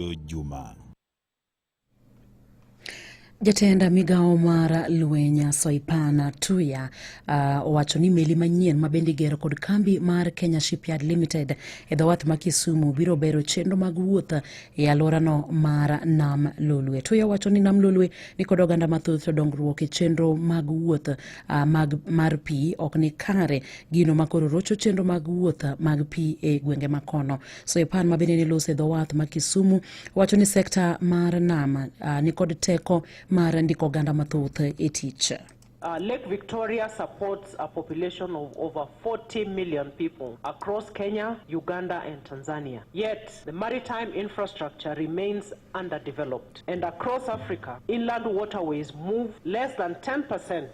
Opiyo Juma. Jatenda migawo mar lweny Soipana Tuya uh, owacho ni meli manyien ma bende igero kod kambi mar Kenya Shipyard Limited e dhowath ma Kisumu biro bero chenro mag wuoth e alworano mar Nam Lolwe. Tuya owacho ni Nam Lolwe ni kod oganda mathoth to dongruok e chenro mag wuoth uh, mag, mar pi ok ni kare gino ma koro rocho chenro mag wuoth mag pi e gwenge makono. Soipan ma bende ne loso e dho wath ma Kisumu wacho ni sekta mar nam uh, nikod teko mar ndiko oganda mathoth e tich. Uh, Lake Victoria supports a population of over 40 million people across Kenya, Uganda, and Tanzania. Yet, the maritime infrastructure remains underdeveloped. And across Africa, inland waterways move less than 10%